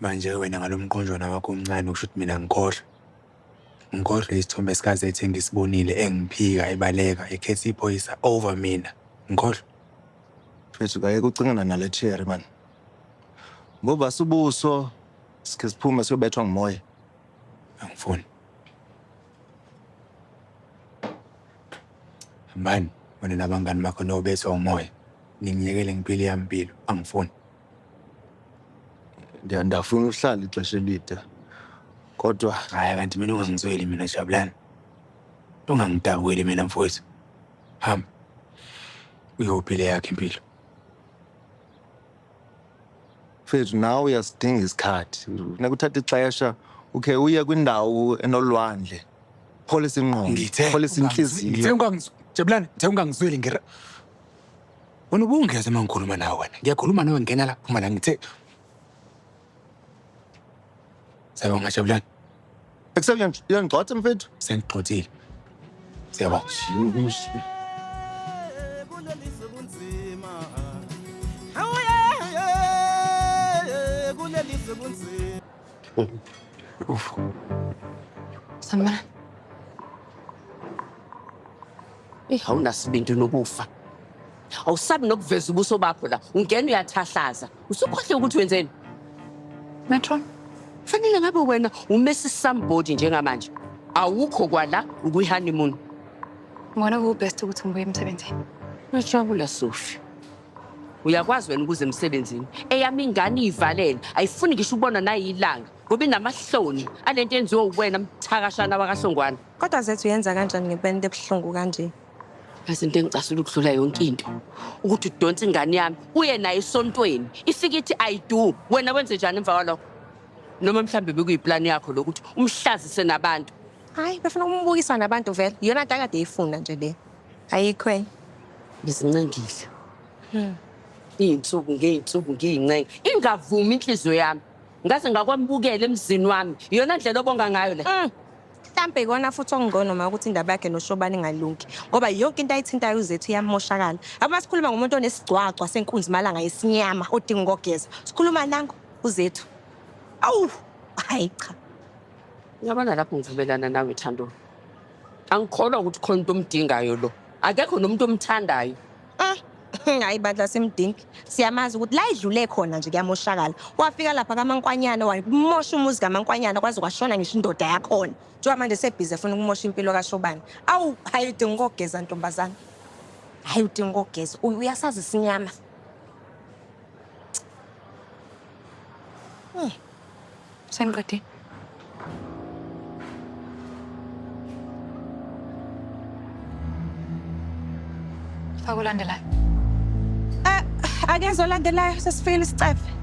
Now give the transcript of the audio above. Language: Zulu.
Manje-ke wena ngalo mqonjwana wakho omncane usho ukuthi mina ngikhohlwe. Ngikhohlwe isithombe sikaZethe engisibonile engiphika ebaleka ekhetha iphoyisa over mina. Ngikhohlwe. Mfethu kayeke ucingana nale cherry man. Ngobasa ubuso sikhe siphume siyobethwa ngumoya. Angifuni. Hambani wena nabangani bakho niyobethwa umoya. Ningiyekele ngipile eyami impilo. Angifuni. Ndiya- ndafuna uhlala ixesha elide kodwa haya kanti mina ungangizweli mina jabulani ungangidabukeli mina mfowethu hamba uyophi le yakhe impilo mfethu nawe uyasidinga isikhathi funeka uthathe ixesha ukhe uye kwindawo enolwandle pholisa ingqondo pholisa intliziyo Ngithe ungangizweli, Jabulani, ngithe ungangizweli ngir. Wena ubungeza uma ngikhuluma nawe wena. Ngiyakhuluma nawe ngena la phuma la ngithe. Sawubona ngajabulani. Ekuseni uyangigxotha mfethu. Sengigxothile. Siyabonga. Uf. Sanibonani. Eh, awunasibindi nokufa awusabi nokuveza ubuso bakho la ungena uyathahlaza usukhohle ukuthi wenzeni metron fanele ngabe wena umesi somebody njengamanje awukho kwala ukuyihoneymoon ngona kubest ukuthi ngibuye emsebenzini uyajabula sofi uyakwazi wena ukuze emsebenzini eyami ingane iyivalele ayifuni ngisho ukubona nayilanga ngoba inamahloni alento enziwe uwena mthakashana wakahlongwana Kodwa zethu yenza kanjani ngepente ebuhlungu kanje? Yazi into engicasula ukudlula yonke into ukuthi udonse ingane yami uye naye esontweni ifike ithi i do wena wenze njani emva kwalokho noma mhlawumbe bekuyiplani yakho lokuthi umhlazise nabantu hayi befuna ukumbukisa nabantu vele iyona nto akade eyifuna nje le ayikho enye ngizincengile hmm. iy'nsuku ngey'nsuku ngiyincenga ingavumi inhliziyo yami ngaze ngakwamukela emzini wami iyona ndlela obonga ngayo le hmm. Mhlampe ikona futhi okungcono ma ukuthi indaba yakhe noShobani ingalungi ngoba yonke into ayithintayo uZethu iyamoshakala. Uma sikhuluma ngomuntu onesigcwagcwa senkunzi malanga yesinyama odinga ukogeza. Sikhuluma nango uZethu. Awu, hayi cha. Uyabona lapho ngivumelana nawe Thando. Angikholwa ukuthi khona into omdingayo lo. Akekho nomuntu omthandayo. Hayi bandla simdingi. Siyamazi ukuthi la idlule khona nje kuyamoshakala. Wafika lapha kaMankwanyana wamosha umuzi kaMankwanyana kwaze kwashona ngisho indoda yakhona. Kuthiwa manje sebhizi efuna ukumosha impilo kaShobane. Awu, hhayi udinga ukogeza ntombazane. Hhayi udinga ukogeza. Uy- Uyasazi isinyama. Sengiqedile. Faka olandelayo. Ah, akenze olandelayo sesifikile isicefe.